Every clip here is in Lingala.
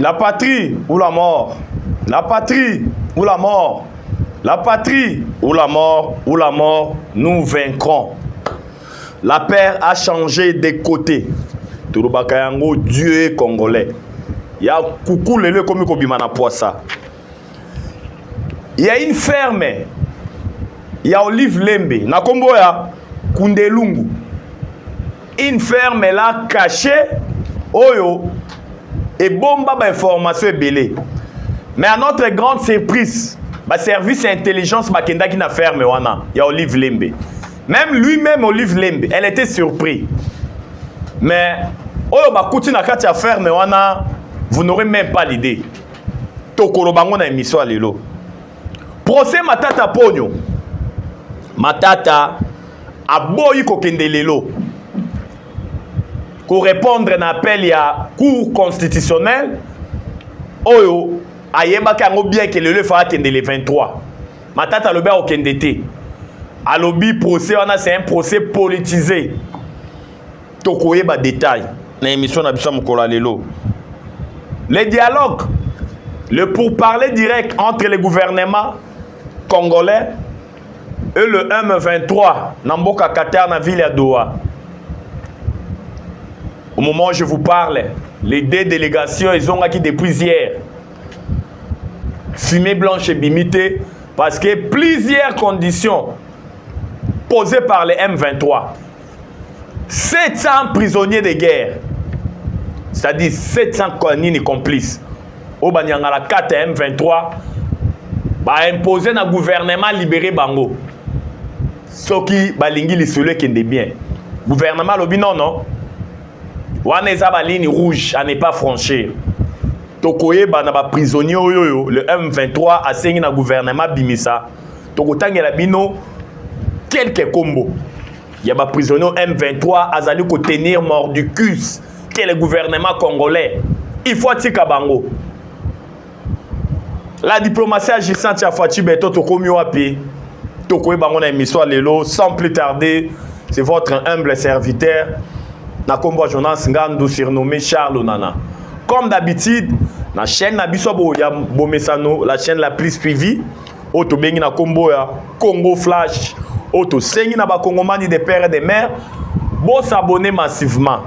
La patrie ou la mort. La patrie ou la mort. La patrie ou la mort ou la mort, nous vaincrons. La paire a changé de côté. Turubaka yango Dieu est congolais. Ya kuku lelo ekomi kobima na poisa. Il y a une ferme il y a Olive Lembe na kombo ya Kundelungu. Une ferme là cachée oyo et bomba ba information ebele. Mais à notre grande surprise, ba service intelligence bakendaki na ferme wana ya Olive Lembe. Même lui-même Olive Lembe, elle était surpris. Mais oyo bakuti na kati ya ferme wana, vous n'aurez même pas l'idée. tokoloba yango na emission ya lelo procès matata ponyo matata aboyi kokende lelo korepondre na appel ya cour constitutionnelle oyo ayebaki yango bien ke lelo efaa akende le 23 matata alobi akokende te alobi procès wana c'est un procès politisé tokoyeba detail na émission na biso mokolo ya lelo le dialogue le pourparler direct entre le gouvernement congolais et le M23 na mboka Qatar na ville ya Doha au moment où je vous parle les deux délégations ezongaki depuis hier fumée blanche ebimi te parce que plusieurs conditions posées par les M23 700 prisonniers de guerre c'est-à-dire 700 nini complice oyo banyangala 4 ya m23 baimpose na gouvernement libere bango soki balingi lisolo ekende bien gouvernement alobi nono wana eza baligne rouge à ne pas franchir tokoyeba na baprisonnier oyo oyo le m23 asengi na gouvernement abimisa tokotangela bino kelke kombo ya baprisonnier m23 azali kotenir mordicus ke le gouvernement congolais il faut atika bango la diplomatie agissante ya faci beto tokomi wapi tokoyeba yango na émission ya lelo sans plus tarder c'est votre humble serviteur na nkombo ya jonas ngandu surnommé charles nana comme d'habitude na chaîne na biso ya bomesano la chaîne la plus suivie oyo tobengi na nkombo ya congo flash oyo tosengi na bakongomani de père et de mère bosabone massivement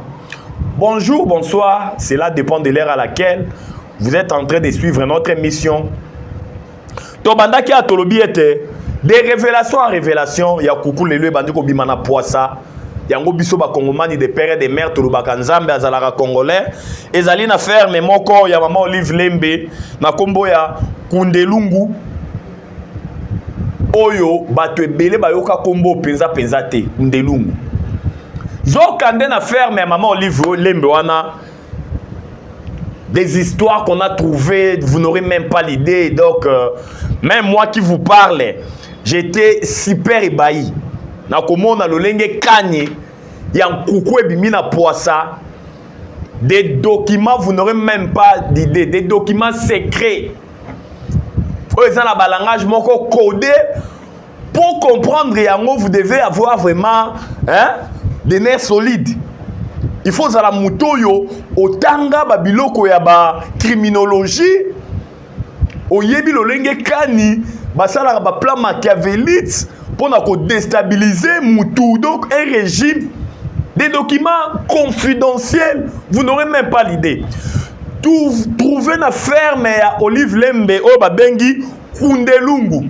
bonjour bonsoir cela dépend de l'heure à laquelle vous êtes en train de suivre notre émission tobandaki ya tolobi ete de révélation en révélation ya kuku lelo ebandi kobima na pwasa yango biso bakongomani de pere de mare tolobaka nzambe azalaka congolais ezali na ferme moko ya mama olive lembe na nkombo ya kundelungu oyo bato ebele bayoka nkombo mpenza mpenza te kundelungu zoka nde na ferme ya mama olive lembe wana des histoires qu'on a trouvées, vous n'aurez même pas l'idée. Donc, euh, même moi qui vous parle, j'étais super ébahi. nakomona lolenge kani ya nkuku ebimi na pwasa des documents vous n'aurez même pas d'idée des documents secrets oyo eza na balangage moko code Pour comprendre yango, vous devez avoir vraiment hein, des nerfs solides. Il faut zala mutoyo otanga ba biloko ya ba criminologie oyebi lolenge kani basalaka ba plan machiavélite pona ko déstabiliser mutu donc un régime des documents confidentiels vous n'aurez même pas l'idée trouver na ferme ya Olive Lembe oyo babengi Kundelungu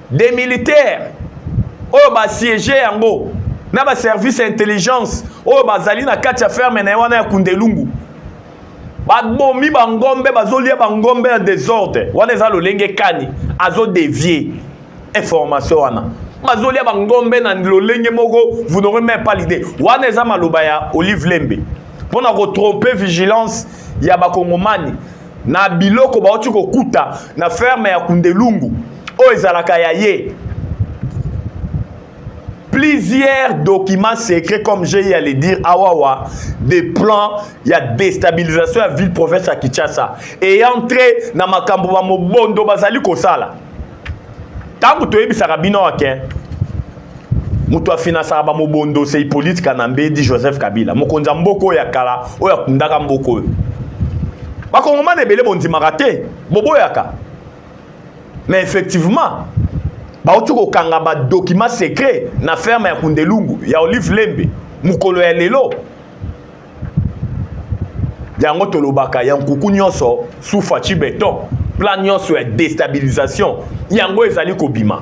des militaires oyo basiege yango na baservice ya intelligence oyo bazali na kati ya ferme na ye wana ya kundelungu babomi bangombe bazolia bangombe ya desordre wana eza lolenge kani azodevie information wana bazolia bangombe na lolenge moko vous n'aurez même pas l'idée wana eza maloba ya olive lembe mpo na kotrompe vigilance ya bakongomani na biloko bauti kokuta na ferme ya kundelungu oyo ezalaka ya ye plusieurs documents secrets comme j'ai à le dire awawa des plans ya déstabilisation ya ville province ya kinshasa et entré na makambo ba mobondo bazali kosala ntango toyebisaka bino ake okay? moto afinasaka bamobondo se hippolyte kanambe di joseph kabila mokonzi ya mboka oyo ya kala oyo akundaka mboka oyo bakongomana ebele bondimaka te boboyaka mais effectivement bauti kokanga badokima secret na ferme ya kundelungu ya olive lembe mokolo ya lelo yango tolobaka ya nkuku nyonso sufaci beton plan nyonso ya destabilisation yango ezali kobima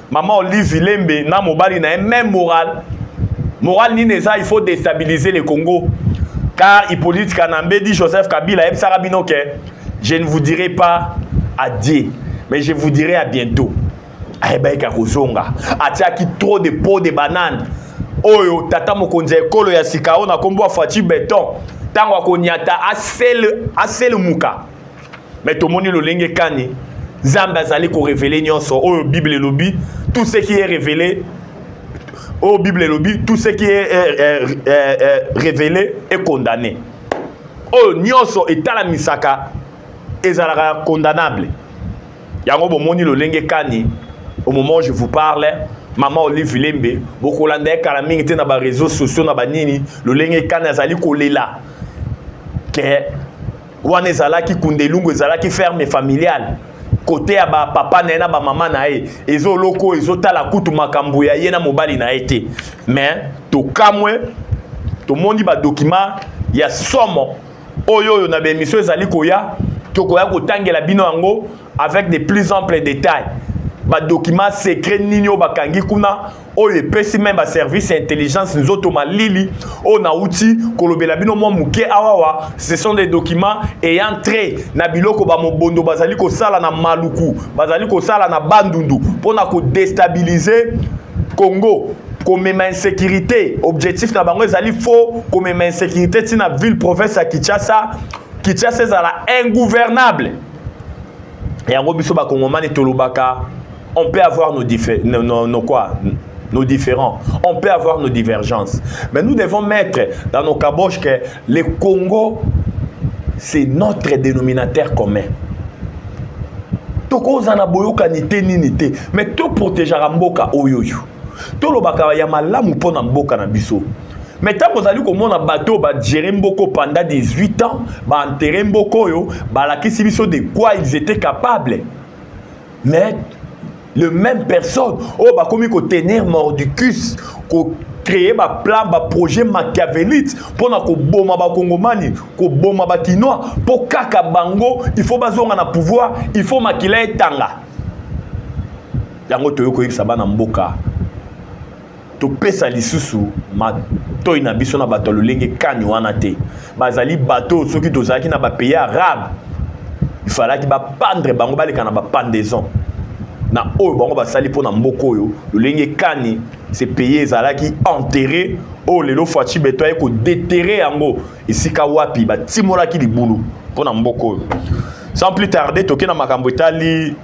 Maman Olive Lembe na mobali na ye même morale. Morale nini eza il faut déstabiliser le Congo. Car Hippolyte Kanambe dit Joseph Kabila ebisaka bino ke je ne vous dirai pas adieu mais je vous dirai à bientôt. Ayebaki akozonga. Atiaki trop de peau de banane. Oyo tata mokonzi ya ekolo ya sika oyo na kombo ya Fatshi Beton. Tango akonyata asele asele muka. me tomoni lolenge kani nzambe azali korevele nyonso oyo bible elobi tout ce qui est révélé oyo bible elobi tout ce qui est eh, eh, eh, révélé est condamné oyo nyonso etalamisaka ezalaka condamnable yango bomoni lolenge kani au moment je vous parle mama olive lembe bokolanda ye kala mingi te na bareseau sociaux na banini lolenge kani azali kolela ke wana ezalaki kundelungu ezalaki ferme familiale kote ya bapapa na ye na bamama na ye ezoloko ezotala kutu makambo ya ye na mobali na ye te mais tokamwe tomoni badokima ya somo oyo oyo na baemission ezali koya tokoya kotangela bino yango avec de plus ample détails badokima secret nini oyo bakangi kuna oyo epesi meme baservice ya intelligence nzoto malili oyo nauti kolobela bino mwa moke awawa ce sont des documents ayant trait na biloko bamobondo bazali kosala na maluku bazali kosala na bandundu mpo na kodestabilize congo komema insécurité objectif na bango ezali faux komema insécurité ntina ville province ya kinshasa kinshasa ezala ingouvernable yango biso bakongomani tolobaka On peut avoir nos, nos, nos, nos quoi nos différends. On peut avoir nos divergences. Mais nous devons mettre dans nos caboches que le Congo, c'est notre dénominateur commun. tokozana boyokani te nini te me toprotegeaka mboka oyo oyo tolobaka ya malamu mpo na mboka na biso me ntango ozali komona bato oyo bagere mboko panda 18 ans baentere mboko oyo balakisi biso de quoi ils étaient capables mais le même personne oyo oh, bakomi kotenir mordicus ko créer baplan baprojet machiavelite mpo na koboma bakongomani koboma bakinois mpo kaka bango il faut bazonga na pouvoir il faut makila etanga yango toyei koyebisa bana mboka topesa lisusu matoi na biso na bato ya lolenge kani wana te bazali bato soki tozalaki na bapays arabe ifalaki bapandre bango baleka na bapandaison na oyo bango basali mpo na mboka oyo lolenge kani se paye ezalaki enterre oyo lelo faci beto aye kodeterre yango esika wapi batimolaki libulu mpo na mboka oyo sans plus tarder toke na makambo etali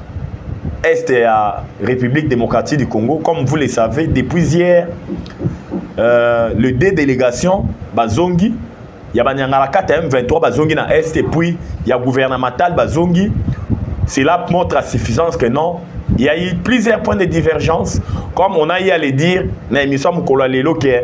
est ya république démocratique du congo comme vous le savez depuis hier euh, le deux délégation bazongi ya banyangalakata ya m23 bazongi na est et puis ya gouvernemental bazongi cela montre à suffisance que non il y a eu plusieurs points de divergence comme on a eu à le dire na émission mokolo ya lelo ke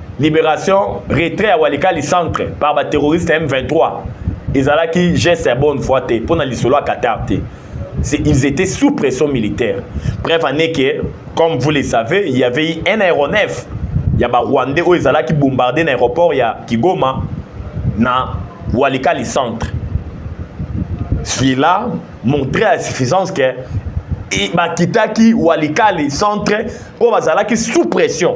liberation retrait ya walikali centre par baterroriste ya m23 ezalaki geste ya bonne foi te mpo na lisolo ya qatar te ils étaient sous pression militaire bref en est que comme vous le savez il y avait eu un aéronef ya barwandais oyo ezalaki bombarde na aéroport ya kigoma na walikali centre celui-là montrait à suffisance que bakitaki walikali centre mpo bazalaki sous pression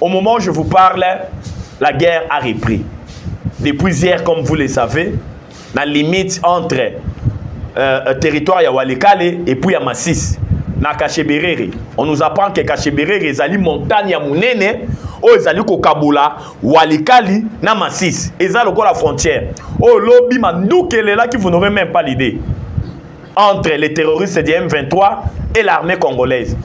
Au moment où je vous parle, la guerre a repris. Depuis hier, comme vous le savez, la limite entre euh, euh territoire ya Walikale et puis ya Massis, na Kacheberere. On nous apprend que Kacheberere est une montagne ya munene oyo ezali kokabola walikali na masisi eza lokola frontière oyo lobi manduki elelaki vous n'aurez même pas l'idée entre les terroristes du m23 et l'armée congolaise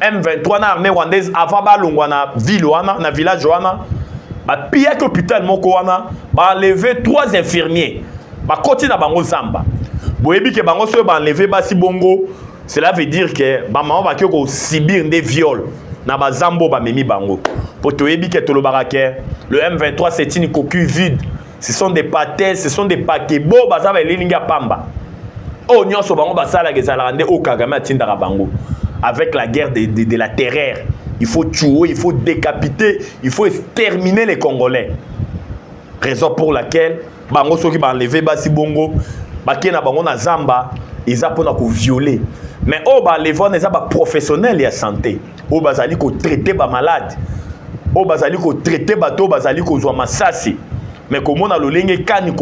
M23 na armée rwandaise avant balongwa na ville wana na village wana bapiyaki hôpital moko wana baenleve trois infirmiers bakoti na bango zamba boyebi ke bango soki baenleve basi bongo cela veut dire ke bamama bakoki kosibir nde viole na bazambo bamemi bango mpo toyebi ke tolobaka ke le M23 c'est une coquille vide ce sont des pates ce sont des pakebo baza baelilingi ya pamba oyo oh, nyonso bango basalaka ezalaka nde oyo oh, kagame atindaka bango avec la guerre de, de, de la terreur il faut tuer il faut décapiter il faut exterminer les congolais raison pour laquelle bango soki baenleve basi bongo bakei na bango na zamba eza mpona kovioler mais oyo oh, baenleve wana eza baprofessionnel ya santé oyo bazali kotraite bamalade oyo bazali kotraite bato oyo bazali kozwa masasi mais komona lolenge kani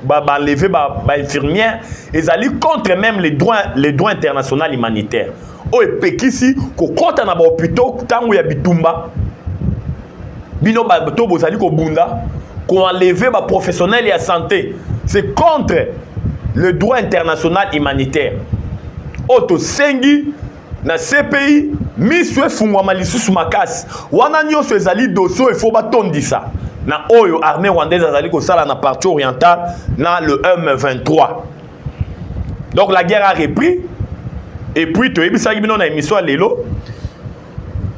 baenleve bainfirmière ezali contre même les droits, les droits international humanitaire oyo epekisi kokɔta na bahôpitaux ntango ya bitumba bino bato bozali kobunda koenleve baprofessionnel ya santé c'est contre le droit international humanitaire oyo tosengi na cpi miso efungwama lisusu makasi wana nyonso ezali dosie oyo efo batondisa na oyo armée rwandaise azali kosala na partie orientale na le m23 donc la guerre a repris et puis toyebisaki bino na émission ya lelo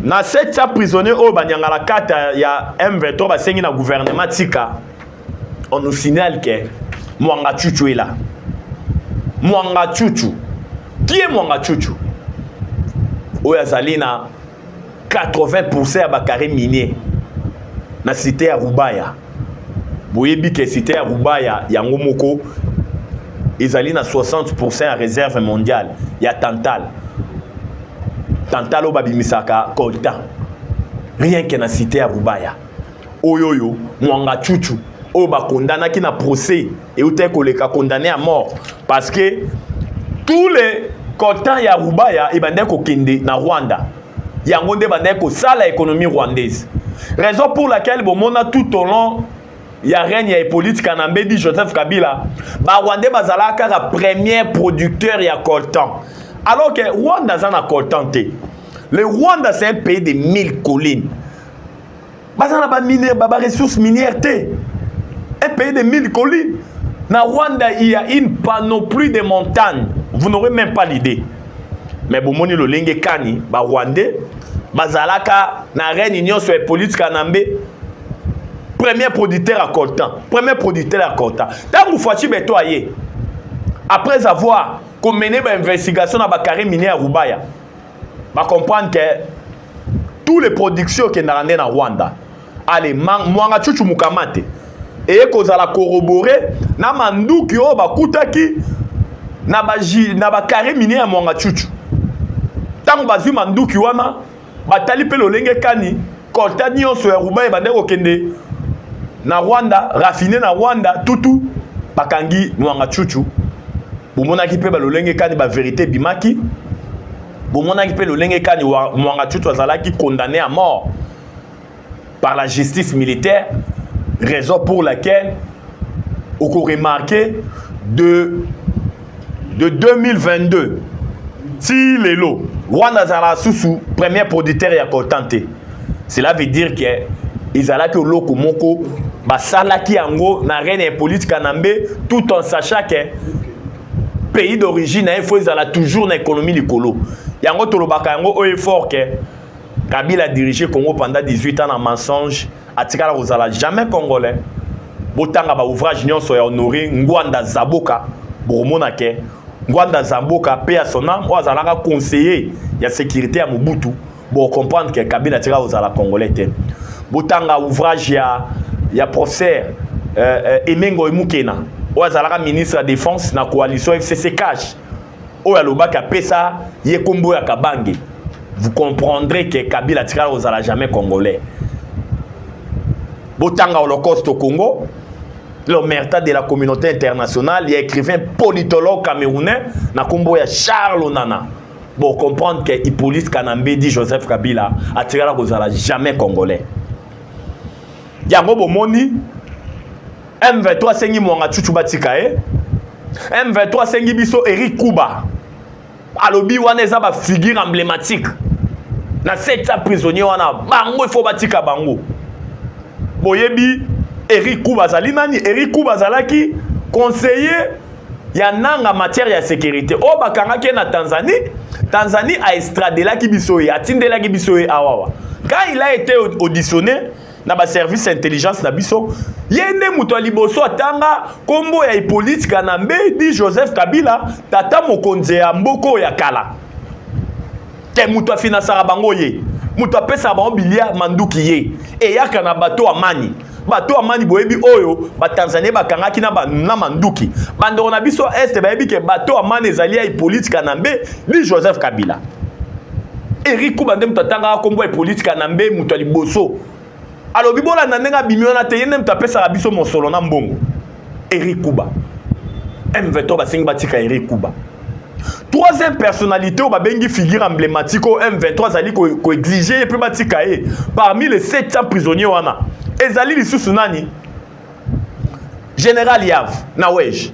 na se tya prisonnier oyo banyangala kata ya m23 basengi na gouvernement tika on nous signale ke mwanga chuchu est là mwanga chuchu qui est mwanga chuchu oyo azali na 80 pourcent ya bacarre minier na cité ya rubaya boyebi ke site ya rubaya yango moko ezali na 60 ya réserve mondiale ya tantal tantal oyo babimisaka coltan rien ke na site ya rubaya oyo oyo mwanga chuchu oyo bakondanaki na procès eutaki koleka condamné ya mort parce que tous les coltan ya rubaya ebandaki kokende na rwanda yango nde bandaki kosala économie rwandaise raison pour laquelle bomona tout au long ya règne ya hippolyte kanambe di joseph kabila barwandais bazalaka kaka premier producteur ya coltan alors que rwanda aza na coltan te le rwanda c'est un pays de mille collines baza na baressource minière te un pays de 1000 collines na rwanda il y a une panoplie de montagne vous n'aurez même pas l'idée mais bomoni lolenge kani barwandais bazalaka na reine nyonso ya politi kanambe premier producteur ya coltan premier producteur ya coltan ntango faci beto aye après avoir komene bainvestigation na bacarre minier ya rubaya ba comprendre que tous les productions okendaka nde na rwanda ale mwanga chuchu mukamate eye kozala corrobore na manduki oyo bakutaki na baji na bakare mine ya mwanga chuchu ntango bazwi manduki wana batali mpe lolenge kani colta nyonso ya ruban ebandaki kokende na rwanda raffine na rwanda tutu bakangi nwanga chuchu bomonaki mpe balolenge kani baverité ebimaki bomonaki mpe lolenge kani mwanga chuchu azalaki condamné à mort par la justice militaire raison pour laquelle okoremarke de de 2022 ti lelo wana azala susu premier producteur ya coltan te cela veut dire que ezalaki oloko moko basalaki yango na reine ya hippolyte kanambe tout en sachant que pays d'origine na ye fo ezala toujours na économie likolo yango tolobaka yango oyo efort ke kabila dirige congo pendant 18 ans na mensonge atikala kozala jamais congolais botanga ba ouvrage nyonso ya honore ngwanda zaboka bokomona ke ngwanda zaboka pe ya son ame oyo azalaka conseiller ya sécurité ya mobutu bocomprendre ke kabila atikala kozala congolais te botanga ouvrage ya, ya professeur euh, euh, emengo emukena oyo azalaka ministre ya défense na coalition fcc cash oyo alobaki apesa ye kombo ya kabange vous comprendrez que kabila atikala kozala jamais congolais botanga holocauste au congo l'omerta de la communauté internationale ya écrivain politologue camerounais na nkombo ya charles nana bocomprendre ke hippolyte kanambedi joseph kabila atikala kozala jamais congolais yango bomoni M23 asengi Mwanga Chuchu batika ye. M23 asengi biso Eric Kuba. Alobi wana eza ba figure emblématique. Na seta prisonnier wana bango il faut batika bango. Boyebi Eric Kuba azali nani? Eric Kuba azalaki conseiller ya nanga matière ya sécurité oyo bakangaki ye na tanzanie tanzanie aestradelaki biso ye atindelaki biso ye awawa quand il a été auditionné na ba service ya intelligence na biso ye nde moto ya liboso atanga nkombo ya hippolyte kanambe di joseph kabila tata mokonzi ya mboka oyo ya kala te moto afinansaka bango ye moto apesaka bango bilia manduki ye eyaka na bato amani bato amani boyebi oyo batanzanie bakangaki na, ba, na manduki bandeko na biso este bayebi ke bato amani ezali ya hippolyte kanambe di joseph kabila Eric Kuba nde moto atangaka nkombo ya Hippolyte Kanambe moto ya liboso alobi bolanda ndenge abimi wana te ye nde moto apesaka biso mosolo na mbongo Eric Kuba M23 basengi batika Eric Kuba troisième personnalité oyo babengi figure emblématique oyo M23 azali koexige ko ye mpe batika ye parmi les 700 prisonniers wana ezali lisusu nani général Yav na Wege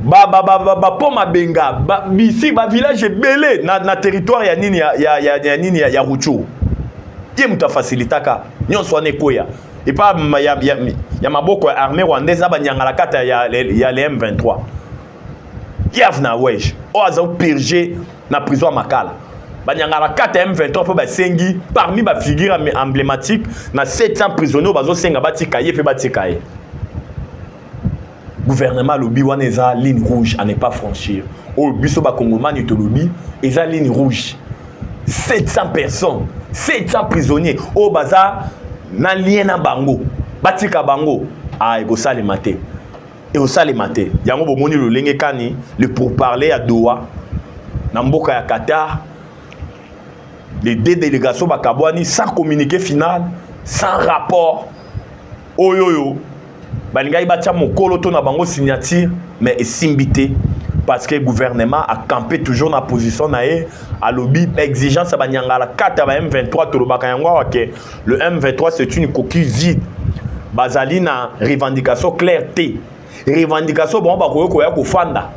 ba ba ba ba, ba po mabenga ba bisi ba village ebele na, na territoire ya nini ya ya ya, ya nini ya, ya Rucho ye moto afacilitaka nyonso wana ekweya epa ya, ya, ya maboko ya armée rwandaise na banyangalakata ya, ya le M23 Kiev na Wege oyo aza purge na prison ya Makala banyangaka kata M23 mpo basengi parmi bafigure emblématique na 700 prisonnier oyo bazosenga batika ye mpe batika ye gouvernement alobi wana eza ligne rouge à ne pas franchir oyo biso bakongomani tolobi eza ligne rouge 700 personnes 700 prisonniers oyo baza na lien na bango batika bango ah, ekosalema te ekosalema te yango bomoni lolenge kani le pourparler ya doha na mboka ya qatar les deux délégations bakabwani sans communiqué final sans rapport oyo oyo balingaki batya mokolo to na bango signature mais esimbi te parce que gouvernement a campé toujours na position na ye alobi exigence ya banyangala kati ya ba m23 tolobaka yango awa ke le m23 c'est une coquille vide bazali na revendication claire te revendication bango bakoki koya kofanda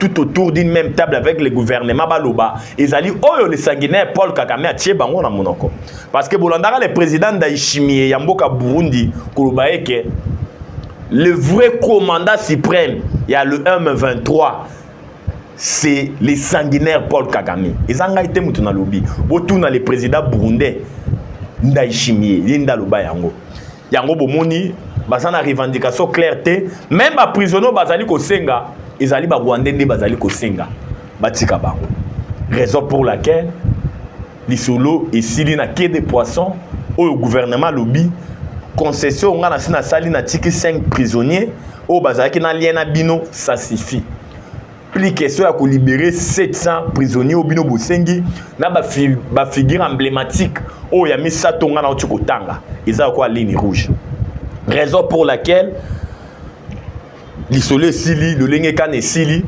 tout autour d'une même table avec le gouvernement baloba ezali oyo le sanguinaire paul kagame atie bango na monoko parce que bolandaka le président ndayishimiye ya mboka burundi koloba eke le vrai commandant suprême ya le m23 c'est le sanguinaire paul kagame eza ngai te moto nalobi botuna le président burundais ndayishimiye ye nde aloba yango yango bomoni baza na revendication claire te meme baprisonnier oyo bazali kosenga ezali barwandais nde bazali kosenga batika bango raison pour laquelle lisolo esili na quai de poisson oyo gouvernement alobi concession ngai nasi nasali natiki 5 prisonnier oyo bazalaki na lien na bino ça suffit pli question ya kolibere 700 prisonnier oyo bino bosengi na bafigure ba emblématique oyo ya misato ngai nauti kotanga eza lokola ligne rouge raison pour laquelle lisolo esili lolenge kani esili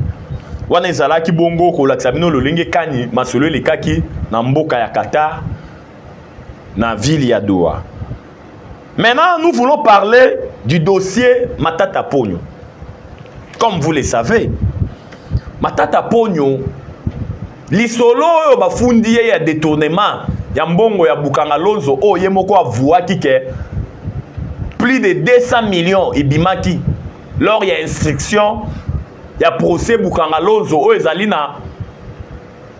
wana ezalaki bongo kolakisa bino lolenge kani masolo elekaki na mboka ya qatar na ville ya doha Maintenant, nous voulons parler du dossier Matata Pogno. Comme vous le savez, Matata Pogno, lisolo oyo bafundi ye ya détournement ya mbongo ya Bukanga Lonzo oyo oh, ye moko avuaki ke plus de 200 millions ebimaki lors ya instruction ya procès Bukanga Lonzo oyo oh, ezali na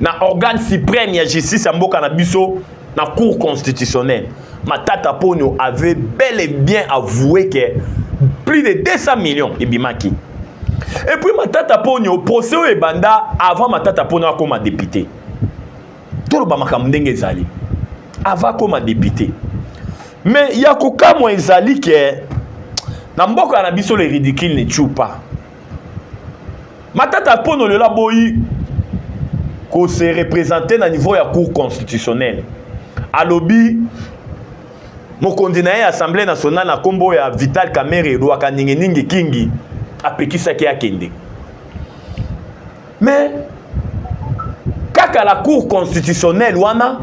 na organe supreme ya justice ya mboka na biso na cour constitutionnelle matata ponyo avait bel et bien avoué que plus de 200 millions ebimaki et puis matata ponyo procès oyo ebanda avant matata ponyo akoma député toloba makambo ndenge ezali avant akoma député mais ya kokamwa ezali ke na mboka na biso le ridicule ne tue pas matata mpono lelo aboyi ko se représenter na niveau ya cour constitutionnelle alobi mokonzi na ye ya assemblée nationale na nkombo ya vital kamere elwaka ninginingi kingi apekisaki akende mais kaka la cour constitutionnelle wana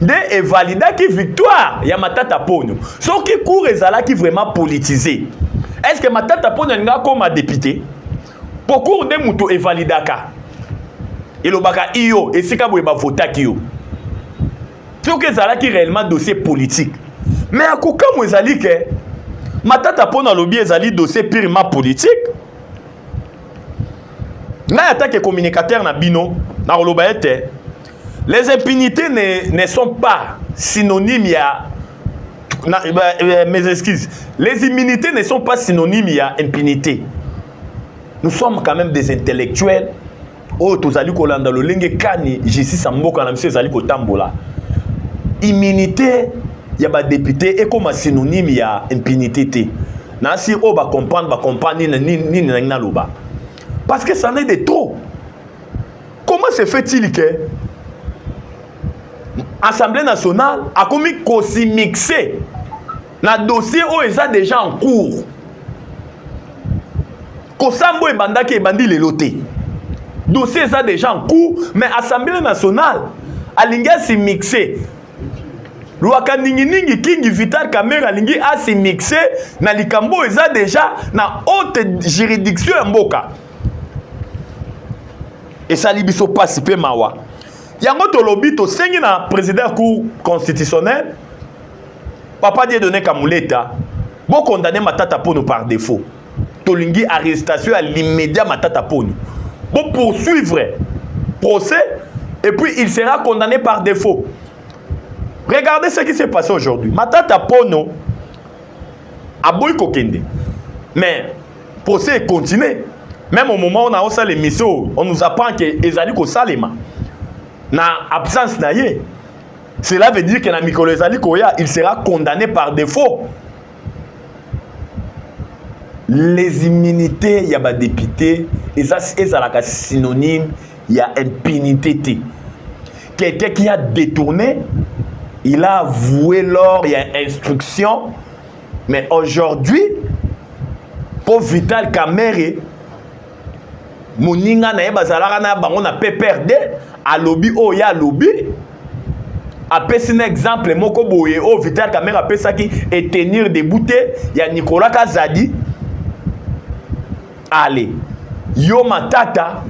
nde evalidaki victoire ya matata ponyo soki cour ezalaki vraiment politise est ce que matata ponyo alingi akóma député mpo cour nde moto evalidaka elobaka iyo esika boye bavotaki yo soki ezalaki réellement dossier politique mais ya kokamwa ezali ke matata mpo nalobi ezali dossier purement politique ngai atake communicateur na bino nakoloba ete les impunités ne, ne sont pas synonyme ya na, ba, euh, mes excuses les immunités ne sont pas synonyme ya impunité nous sommes quand même des intellectuels oyo tozali kolanda lolenge kani justice ya mboka na biso ezali kotambola immunité ya badepute ekoma synonyme ya impunité te nasi oyo bacomprendre bacomprendre nini nini nangi naloba parce que ça n'est de trop comment se fait-il que assemblée nationale akomi kosimixe na dossier oyo eza déjà en cours kosambo ebandaki ebandi lelo te dossier eza déjà en cours mais assemblée nationale alingi asimixe lwaka ninginingi kingi vital kamere alingi asimixe na likambo oyo eza déjà na haute juridiction ya mboka esali biso mpasi mpe mawa yango tolobi tosengi na président ya cour constitutionnel papa diedone kamuleta bokondane matata pono par défaut tolingi arrestation ya l'immédiat matata poni bo poursuivre procès et puis il sera condamné par défaut regardez ce qui s'est passé aujourd'hui matata pono aboyi kokende mais procès est continué même au moment on a osa l'émission on nous apprend que ezali kosalema na absence na ye cela veut dire que na mikolo ezali koya il sera condamné par défaut les immunités ya badepute eza ezalaka synonyme ya impunité te quelqu'un qui a détourné il a avoué lors ya instruction mais aujourd'hui mpo vital kamere moninga na ye bazalaka na bango na pprd alobi oyo ye alobi apesi na exemple moko boye oyo vital kamere apesaki etenir debout te ya nicolas kazadi ale yo matata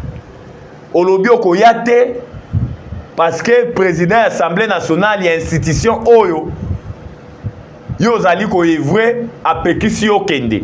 olobi okoya te parce que président ya assemblée nationale ya institution oyo yo ozali koevre apekisi yo kende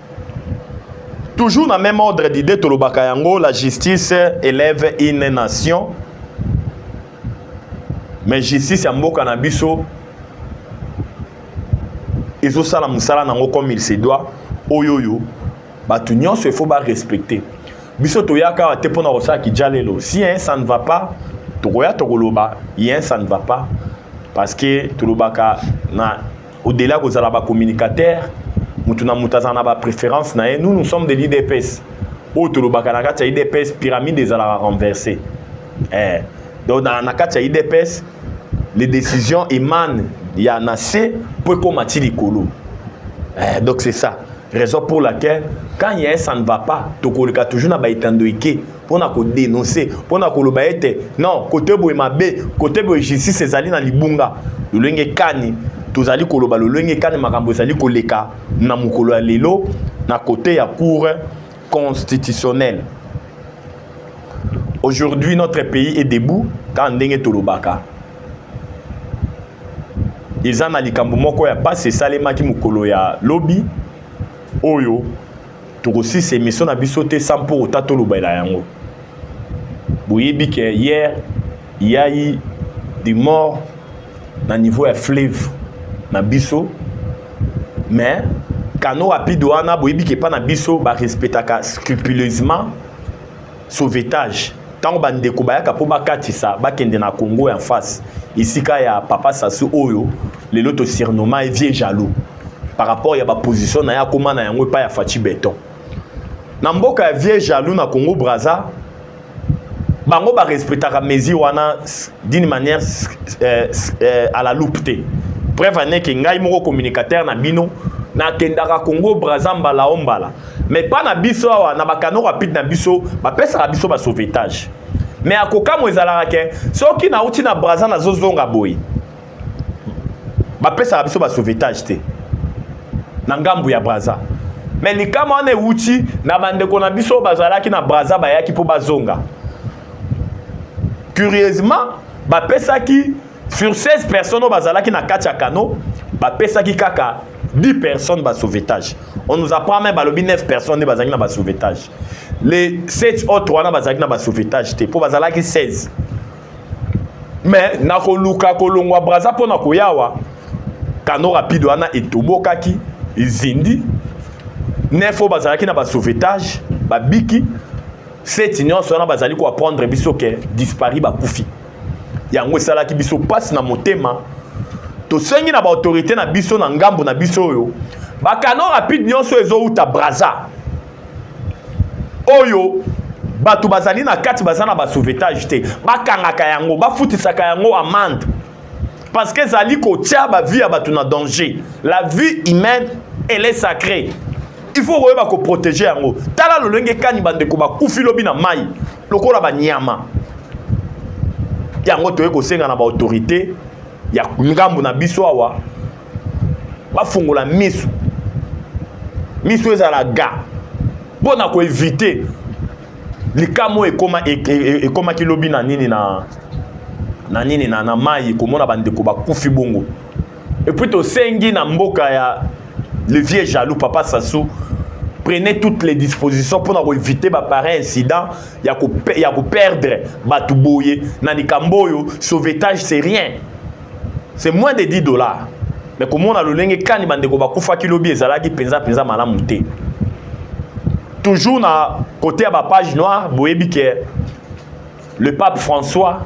Toujours na même ordre d'idée tolobaka yango la justice élève une nation mais justice ya mboka na biso ezosala mosala nango comme il se doit oyo oyo bato nyonso efo barespecte biso toyaka awa te mpo na kosala kijalelo si un ça ne va pas tokoya tokoloba ye ça ne va pas parce que tolobaka na au-delà kozala ba communicateurs mutu na mutu azala na ba préférence na ye nous nous sommes de l'IDPS oyo tolobaka na kati ya IDPS pyramide ezalaka renversée eh. donc na, na kati ya IDPS les décisions émanent ya na se mpo ekóma ti likolo eh, donc c'est ça raison pour laquelle quand il y a un ça ne va pas tokoleka toujours na baetando eke mpo na kodenonse mpo na koloba ete non kote boye mabe kote boye justice ezali na libunga lolenge kani tozali koloba lolenge kani makambo ezali koleka na mokolo ya lelo na kote ya cour constitutionnelle aujourd'hui notre pays est debout kaka ndenge tolobaka eza na likambo moko ya mpasi esalemaki mokolo ya lobi oyo tokosisa emission na biso te sans mpo ota tolobela yango boyebi ke hier yai de mort na niveau ya fleuve na biso mais kano rapide wana boyebi ke epa na biso barespectaka scrupuleusement sauvetage ntango bandeko bayaka mpo bakatisa bakende na congo en face esika ya papa sasu oyo lelo tosurnoma ye vieux jaloux par rapport ya baposition na ye akóma na yango epai ya faci beton na mboka ya vieux jaloux na congo braza bango barespectaka mesure wana d'une manière euh, euh, à la loupe te preuve aneke ngai moko communicateur na bino nakendaka congo braza mbala o mbala mais pas na biso awa na bakano rapide na biso bapesaka biso basauvetage mais akokamwa ezalaka ke soki nauti na braza nazozonga boye bapesaka biso basauvetage te na ngambo ya braza mais likama wana ewuti na bandeko na biso bazalaki na braza bayaki mpo bazonga curieusement bapesaki Sur 16 personnes bazalaki na kati ya canot, bapesaki kaka 10 personnes ba sauvetage. On nous apprend même balobi 9 personnes ne bazalaki na ba sauvetage. Les 7 autres wana bazalaki na ba sauvetage te po bazalaki 16. Mais na koluka kolongwa Brazza pona koyawa canot rapide wana etobokaki ezindi nef oyo bazalaki na basauvetage babiki seti nyonso wana bazali koaprendre biso ke dispari bakufi yango esalaki biso mpasi na motema tosengi na baautorité na biso na ngambo na biso oyo bakano rapide nyonso ezowuta braza oyo bato bazali na kati baza na basauvetage te bakangaka yango bafutisaka yango amande parce que ezali kotya bavie ya bato na danger la vie humaine elle est sacrée il faut koyeba koprotege yango tala lolenge kani bandeko bakufi lobi na mai lokola banyama yango toye kosenga na baautorité ya ngambo na biso awa bafungola miso miso ezala ga mpo na koevite likambo ekoma e, e, e, ekomaki lobi na nini na na nini na, na mai komona bandeko bakufi bongo Et puis tosengi na mboka ya le vieux jaloux papa Sassou prenez toutes les dispositions pour avoir éviter ba pareil incident ya ko ya ko perdre batu boye na likambo oyo sauvetage c'est rien c'est moins de 10 dollars mais komona lolenge kani bandeko bakufaki lobi ezalaki mpenza mpenza malamu te toujours na kote ya bapage noire boyebi ke le pape françois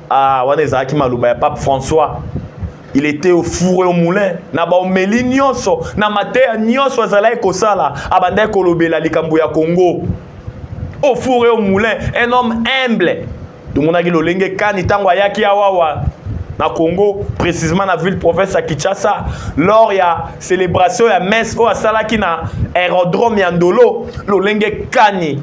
ah wana ezalaki maloba ya pape françois il était au four et au moulin na baomeli nyonso na mateya nyonso azalaki kosala abandaki kolobela likambo ya congo au four et au moulin un homme humble tomonaki lolenge kani ntango ayaki awawa na congo précisement na ville province ya kinshasa lors ya célébration ya messe oyo asalaki na aérodrome ya ndolo lolenge kani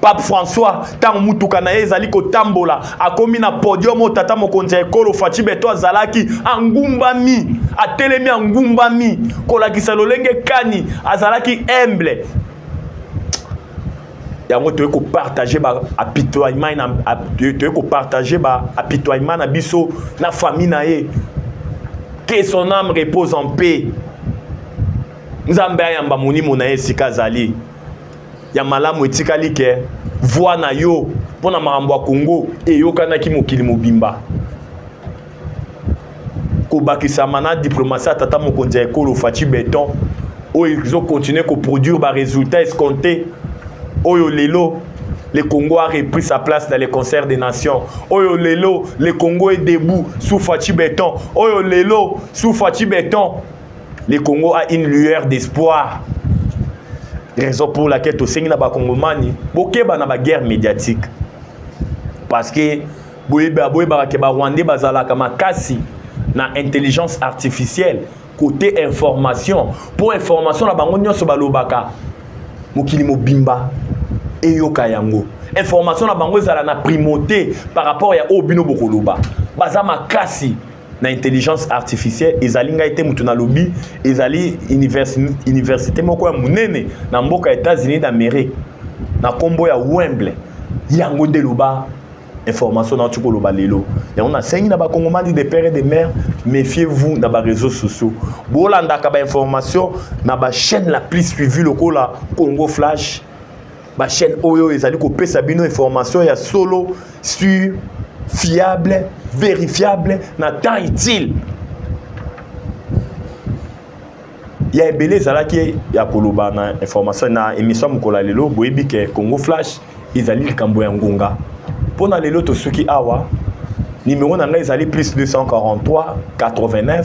pape françois ntango motuka na ye ezali kotambola akomi na podium oyo tata mokonzi ya ekolo faci beto azalaki angumbami atelemi angumbami kolakisa lolenge kani azalaki humble yango toyei kopartage baapitoinement toyei kopartage baapitoinement na biso na famille na ye que son âme repose en paix nzambe ayamba molimo na ye esika azali ya malamu etikali ke voix na yo mpo na makambo ya congo eyokanaki mokili mobimba kobakisama na diplomasi ya tata mokonzi ya ekolo faci beton oyo ezokontinue koproduire baresultat escompte oyo lelo le congo a repris sa place dans le concert des nations oyo lelo le congo est debout sous faci beton oyo lelo sous faci beton Le Congo a une lueur d'espoir. Raison pour laquelle tosengi na bakongomani bokeba na baguerre médiatique parce que boyebaka ke barwandais bazalaka makasi na intelligence artificielle côté information mpo information na bango nyonso balobaka mokili mobimba eyoka yango information na bango ezala na primauté par rapport ya oyo bino bokoloba baza makasi na intelligence artificielle ezali ngai te moto nalobi ezali université moko ya monene na mboka ya états-unis d'amérique na nkombo ya wemble yango nde loba information na otiki koloba lelo yango nasengi na bakongomani de père et de mère méfiez vous na baréseau sociaux bolandaka bainformation na bachaîne la plus suivi lokola congo flash Ba chaîne oyo ezali kopesa bino information ya solo sur fiable vérifiable na temps utile ya ebele ezalaki ya koloba na information na émission ya mokolo ya lelo boyebi ke congo flash ezali likambo ya ngonga mpo na lelo tosuki awa nimero na ngai ezali plus 243 89